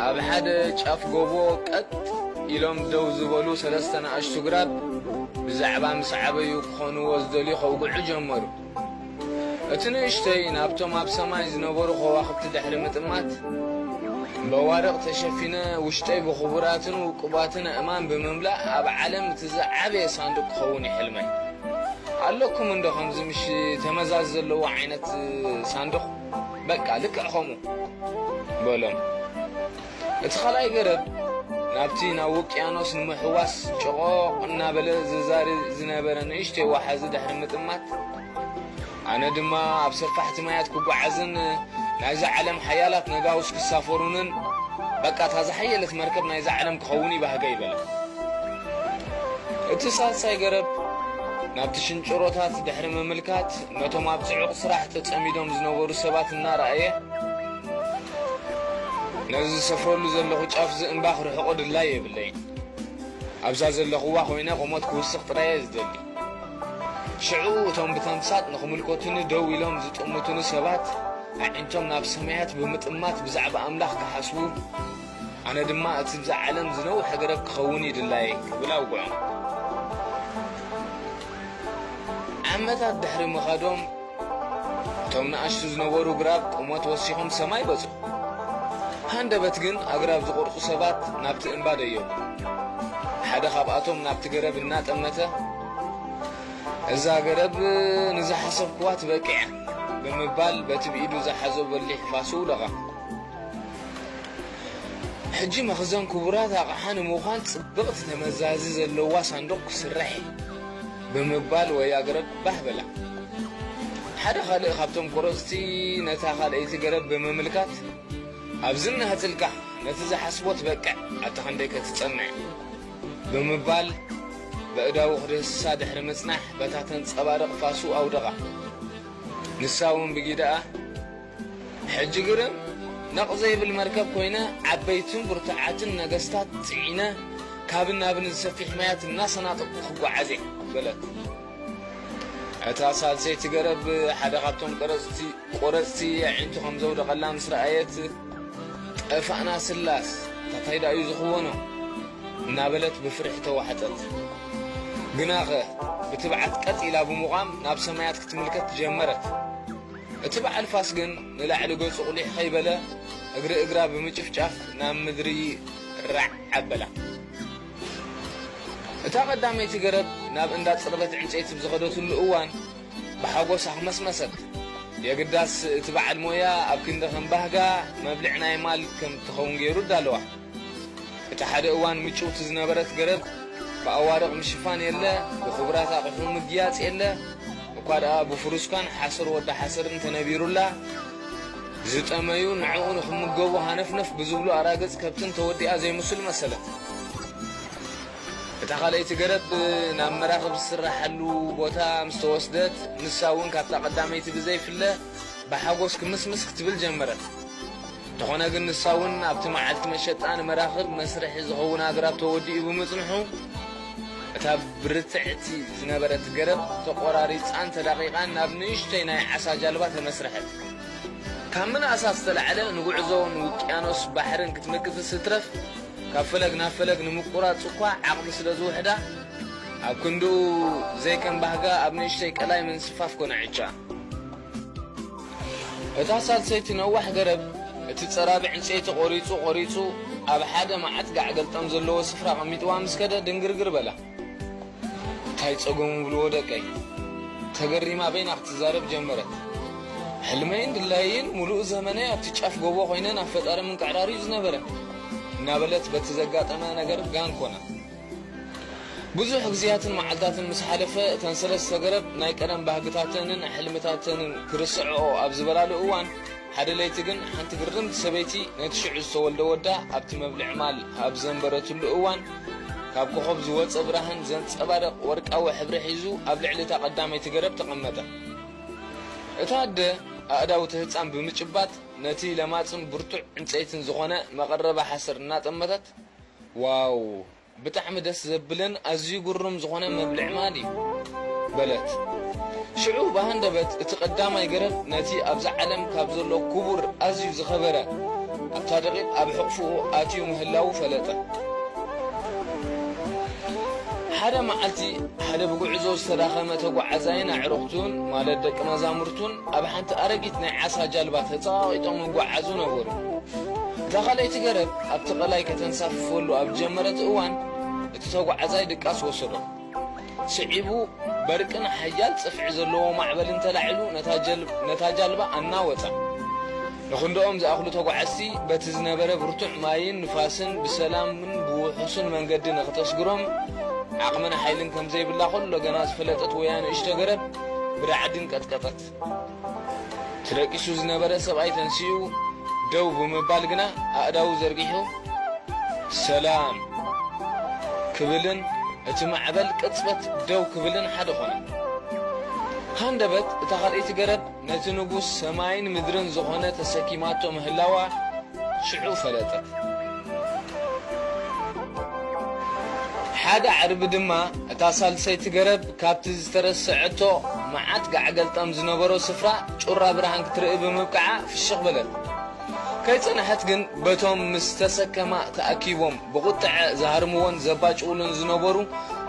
ኣብ ሓደ ጫፍ ጎቦ ቀጥ ኢሎም ደው ዝበሉ ሰለስተ ንኣሽቱ ግራብ ብዛዕባ ምስ ዓበዩ ክኾንዎ ዝደልዩ ከውግዑ ጀመሩ። እቲ ንእሽተይ ናብቶም ኣብ ሰማይ ዝነበሩ ከዋኽብቲ ድሕሪ ምጥማት በዋርቕ ተሸፊነ ውሽጠይ ብኽቡራትን ውቁባትን ኣእማን ብምምላእ ኣብ ዓለም እቲ ዝዓበየ ሳንዱቕ ክኸውን ይሕልመ ኣለኩም እንዶ ከምዚ ምሽ ተመዛዝ ዘለዎ ዓይነት ሳንዱቕ በቃ ልክዕ ከምኡ በሎም። እቲ ኻልኣይ ገረብ ናብቲ ናብ ውቅያኖስ ንምሕዋስ ጨቖቕ እናበለ ዝዛሪ ዝነበረ ንእሽተይ ወሓዚ ድሕሪ ምጥማት፣ ኣነ ድማ ኣብ ሰፋሕቲ ማያት ክጓዓዝን ናይዛ ዓለም ሓያላት ነጋውስ ክሳፈሩንን፣ በቃ እታ ዝሓየለት መርከብ ናይዛ ዓለም ክኸውን ይባህገይ በለ። እቲ ሳልሳይ ገረብ ናብቲ ሽንጭሮታት ድሕሪ ምምልካት፣ ነቶም ኣብ ጽዑቕ ስራሕ ተጸሚዶም ዝነበሩ ሰባት እናረኣየ፣ ነዚ ዝሰፍረሉ ዘለኹ ጫፍ'ዚ እምባ ክርሕቖ ድላይ የብለይን። ኣብዛ ዘለኹዋ ኮይነ ቁመት ክውስኽ ጥራይ'የ ዝደሊ። ሽዑ እቶም ብተምሳጥ ንኽምልከቱኒ ደው ኢሎም ዝጥምቱኒ ሰባት፣ ኣዒንቶም ናብ ሰማያት ብምጥማት ብዛዕባ ኣምላኽ ክሓስቡ፣ ኣነ ድማ እቲ ብዛ ዓለም ዝነውሐ ገረብ ክኸውን እዩ ድላየይ ክብል ኣውግዖም። ዓመታት ድሕሪ ምኻዶም እቶም ንኣሽቱ ዝነበሩ ግራብ ቁመት ወሲኾም ሰማይ በጹ። ሃንደበት ግን ኣግራብ ዝቆርጹ ሰባት ናብቲ እምባ ደየቡ። ሓደ ካብኣቶም ናብቲ ገረብ እናጠመተ እዛ ገረብ ንዝሓሰብክዋ ትበቅዕ እያ ብምባል በቲ ብኢዱ ዝሓዞ በሊሕ ፋሱ ውደቓ። ሕጂ መኽዘን ክቡራት ኣቕሓ ንምዃን ጽብቕቲ ተመዛዚ ዘለዋ ሳንዱቕ ክስራሕ እዩ ብምባል ወያ ገረብ ባህ በላ። ሓደ ካልእ ካብቶም ቁረጽቲ ነታ ካልኣይቲ ገረብ ብምምልካት፣ ኣብዚ እናህጽልካ ነቲ ዝሓስቦ ትበቅዕ ኣታ ክንደይከ ትጸንዕ? ብምባል በእዳዉ ክድህስሳ ድሕሪ ምጽናሕ በታ ተንጸባርቕ ፋሱ ኣውደቓ። ንሳ'ውን ብጊደኣ፣ ሕጂ ግርም ነቕ ዘይብል መርከብ ኮይነ ዓበይትን ብርቱዓትን ነገስታት ጽዒነ ካብን ናብን እዚ ሰፊሕ ማያት እናሰናጠቕኩ ክጓዓዝ እየ በለት። እታ ሳልሰይቲ ገረብ ሓደ ካብቶም ቀረጽቲ ቆረጽቲ ኣዒንቱ ከም ዘውደቐላ ምስ ረኣየት ጠፋእና ስላስ ታታይ ደኣዩ ዝኽወኖ እናበለት ብፍርሒ ተዋሕጠት። ግናኸ ብትብዓት ቀጥ ኢላ ብምቛም ናብ ሰማያት ክትምልከት ጀመረት። እቲ በዓል ፋስ ግን ንላዕሊ ገጹ ቁሊሕ ከይበለ እግሪ እግራ ብምጭፍጫፍ ናብ ምድሪ ራዕ ኣበላ። እታ ቀዳመይቲ ገረብ ናብ እንዳ ጽርበት ዕንጸይቲ ብዝኸደትሉ እዋን ብሓጎስ ኣኽመስመሰት። የግዳስ እቲ በዓል ሞያ ኣብ ክንዲ ከም ባህጋ መብልዕ ናይ ማል ከም እትኸውን ገይሩ ኣዳለዋ። እታ ሓደ እዋን ምጭውቲ ዝነበረት ገረብ ብኣዋርቕ ምሽፋን የለ፣ ብኽቡራት ኣቕሑ ምግያጽ የለ፣ እኳ ደኣ ብፍሩስካን ሓሰር ወዲ ሓሰርን ተነቢሩላ፣ ዝጠመዩ ንዕኡ ንኽምገቡ ሃነፍነፍ ብዝብሉ ኣራግጽ ከብትን ተወዲኣ ዘይምስሉ መሰለት። እታ ካልኣይቲ ገረብ ናብ መራኽብ ዝስራሓሉ ቦታ ምስ ተወስደት፣ ንሳ'ውን ካብታ ቀዳመይቲ ብዘይፍለ ብሓጎስ ክምስምስ ክትብል ጀመረት። እንተኾነ ግን ንሳ እውን ኣብቲ መዓልቲ መሸጣ ንመራኽብ መስርሒ ዝኸውን ኣግራብ ተወዲኡ ብምጽንሑ እታ ብርትዕቲ ዝነበረት ገረብ ተቖራሪጻን ተዳቒቓን ናብ ንእሽተይ ናይ ዓሳ ጃልባ ተመስርሐት። ካብ ምንኣሳ ዝተላዕለ ንጉዕዞ ንውቅያኖስ ባሕርን ክትምክትስ እትረፍ ካብ ፈለግ ናብ ፈለግ ንምቁራጽ እኳ ዓቕሚ ስለ ዝውሕዳ ኣብ ክንድኡ ዘይከም ባህጋ ኣብ ንእሽተይ ቀላይ ምንስፋፍ ኮነ ዕጫ እታ ሳልሰይቲ ነዋሕ ገረብ፣ እቲ ጸራቢ ዕንጸይቲ ቆሪጹ ቆሪጹ ኣብ ሓደ መዓት ጋዕ-ገልጠም ዘለዎ ስፍራ ኣቐሚጥዋ ምስ ከደ ድንግርግር በላ። እንታይ ጸገሙ ብልዎ ደቀይ? ተገሪማ በይና ክትዛረብ ጀመረት። ሕልመይን ድላየይን ምሉእ ዘመነይ ኣብቲ ጫፍ ጎቦ ኮይነ ናብ ፈጣሪ ምንቅዕራር'ዩ ዝነበረ። እናበለት በቲ ዘጋጠመ ነገር ጋን ኮና። ብዙሕ ግዜያትን መዓልታትን ምስ ሓለፈ፣ እተን ሰለስተ ገረብ ናይ ቀደም ባህግታተንን ሕልምታተንን ክርስዕኦ ኣብ ዝበላሉ እዋን፣ ሓደ ለይቲ ግን ሓንቲ ግርምቲ ሰበይቲ ነቲ ሽዑ ዝተወልደ ወዳ ኣብቲ መብልዒ ማል ኣብ ዘንበረትሉ እዋን፣ ካብ ኮኾብ ዝወጸ ብራህን ዘንጸባርቕ ወርቃዊ ሕብሪ ሒዙ ኣብ ልዕሊ እታ ቀዳመይቲ ገረብ ተቐመጠ። እታ ኣደ ኣእዳው እቲ ህጻን ብምጭባጥ ነቲ ለማጽን ብርቱዕ ዕንጸይትን ዝኾነ መቐረቢ ሓሰር እናጠመተት፣ ዋው ብጣዕሚ ደስ ዘብልን ኣዝዩ ግሩም ዝኾነ መብልዒ ማል እዩ። በለት። ሽዑ ብሃንደበት እቲ ቀዳማይ ገረብ ነቲ ኣብዛ ዓለም ካብ ዘሎ ክቡር ኣዝዩ ዝኸበረ ኣብታ ደቒቕ ኣብ ሕቕፍኡ ኣትዩ ምህላዉ ፈለጠ። ሓደ መዓልቲ ሓደ ብጉዕዞ ዝተዳኸመ ተጓዓዛይን ኣዕሩኽቱን ማለት ደቂ መዛሙርቱን ኣብ ሓንቲ ኣረጊት ናይ ዓሳ ጃልባ ተጸቓቒጦም ይጓዓዙ ነበሩ። እታ ካልኣይቲ ገረብ ኣብቲ ቀላይ ከተንሳፍፈሉ ኣብ ዝጀመረት እዋን፣ እቲ ተጓዓዛይ ድቃስ ወሰዶ። ስዒቡ በርቅን ሓያል ጽፍዒ ዘለዎ ማዕበልን ተላዒሉ ነታ ጃልባ ኣናወጻ። ንኽንደኦም ዝኣኽሉ ተጓዓዝቲ በቲ ዝነበረ ብርቱዕ ማይን ንፋስን ብሰላምን ብውሑስን መንገዲ ንኽተስግሮም ዓቕምን ሓይልን ከም ዘይብላ ከሎ ገና ዝፈለጠት ወያ ንእሽቶ ገረብ ብራዕድን ቀጥቀጠት። ተደቂሱ ዝነበረ ሰብኣይ ተንሲኡ ደው ብምባል ግና ኣእዳዉ ዘርጊሑ ሰላም ክብልን እቲ ማዕበል ቅጽበት ደው ክብልን ሓደ ኾነ። ሃንደበት እታ ካልኣይቲ ገረብ ነቲ ንጉስ ሰማይን ምድርን ዝኾነ ተሰኪማቶ ምህላዋ ሽዑ ፈለጠት። ሓደ ዓርቢ ድማ እታ ሳልሰይቲ ገረብ ካብቲ ዝተረሰዐቶ መዓት ጋዕገልጠም ዝነበሮ ስፍራ ጩራ ብርሃን ክትርኢ ብምብቅዓ ፍሽኽ በለት። ከይጸንሐት ግን በቶም ምስ ተሰከማ ተኣኪቦም ብቑጥዐ ዝሃርምዎን ዘባጭዉሉን ዝነበሩ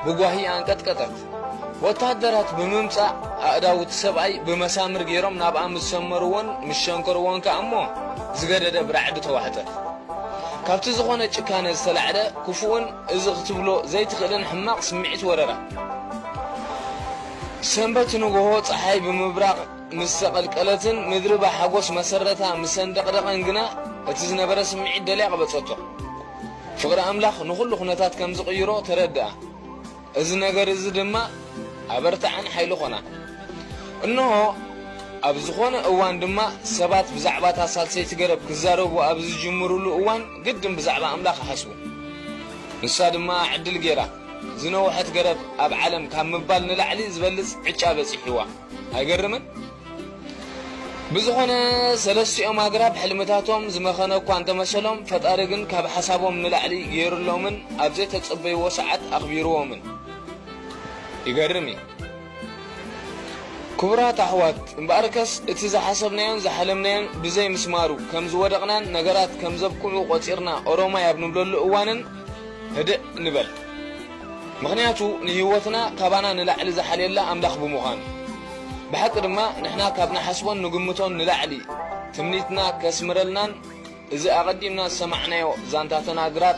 ብጓሂ ኣንቀጥቀጠት። ወተሃደራት ብምምጻእ ኣእዳው እቲ ሰብኣይ ብመሳምር ገይሮም ናብኣ ምስ ሰመርዎን ምስ ሸንከርዎን ከኣ እሞ ዝገደደ ብራዕዲ ተዋሕጠት። ካብቲ ዝኾነ ጭካነ ዝተላዕለ ክፉእን እዚ ክትብሎ ዘይትኽእልን ሕማቕ ስምዒት ወረራ። ሰንበት ንግሆ ጸሓይ ብምብራቕ ምስ ዘቐልቀለትን ምድሪ ብሓጎስ መሰረታ ምስ ኣንደቕደቐን ግና እቲ ዝነበረ ስምዒት ደልያ ቀበጸቶ። ፍቕሪ ኣምላኽ ንዅሉ ዅነታት ከም ዝቕይሮ ተረድኣ፣ እዚ ነገር እዚ ድማ ኣበርትዓን ሓይሊ ዀና። እንሆ፣ ኣብ ዝዀነ እዋን ድማ ሰባት ብዛዕባ እታ ሳልሰይቲ ገረብ ክዛረቡ ኣብ ዝጅምሩሉ እዋን ግድን ብዛዕባ ኣምላኽ ይሓስቡ። ንሳ ድማ ዕድል ገይራ። ዝነውሐት ገረብ ኣብ ዓለም ካብ ምባል ንላዕሊ ዝበልጽ ዕጫ በጺሕዋ። ኣይገርምን? ብዝኾነ ሰለስቲኦም ኣግራብ ሕልምታቶም ዝመኸነ እኳ እንተመሰሎም፣ ፈጣሪ ግን ካብ ሓሳቦም ንላዕሊ ገይሩሎምን ኣብ ዘይተጸበይዎ ሰዓት ኣኽቢርዎምን። ይገርም እዩ። ክቡራት ኣሕዋት፣ እምበኣርከስ እቲ ዝሓሰብናዮን ዝሓለምናዮን ብዘይ ምስማሩ ከም ዝወደቕናን ነገራት ከም ዘብቅዑ ቆጺርና ኦሮማይ ኣብ ንብለሉ እዋንን፣ ህድእ ንበል ምኽንያቱ ንህይወትና ካባና ንላዕሊ ዝሓልየላ ኣምላኽ ብምዃኑ። ብሓቂ ድማ ንሕና ካብ ንሓስቦን ንግምቶን ንላዕሊ ትምኒትና ከስምረልናን እዚ ኣቐዲምና ዝሰማዕናዮ ዛንታተን ኣግራብ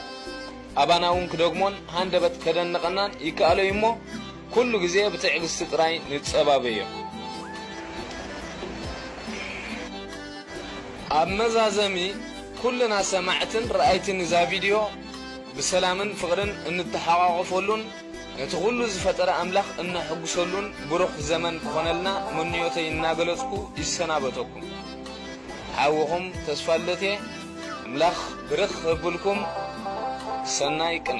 ኣባና'ውን ክደግሞን ሃንደበት ከደንቐናን ይከኣሎ'ዩ'ሞ ኩሉ ግዜ ብትዕግስቲ ጥራይ ንጸባበዮ። ኣብ መዛዘሚ ኩልና ሰማዕትን ረኣይትን እዛ ቪድዮ ብሰላምን ፍቕርን እንተሓቛቖፈሉን ነቲ ኩሉ ዝፈጠረ ኣምላኽ እነሕጉሰሉን ብሩኽ ዘመን ክኾነልና ምንዮተይ እናገለጽኩ ይሰናበተኩም። ሓውኹም ተስፋልደት'የ። ኣምላኽ ብርኽ ሀብልኩም። ሰናይ ቅነ።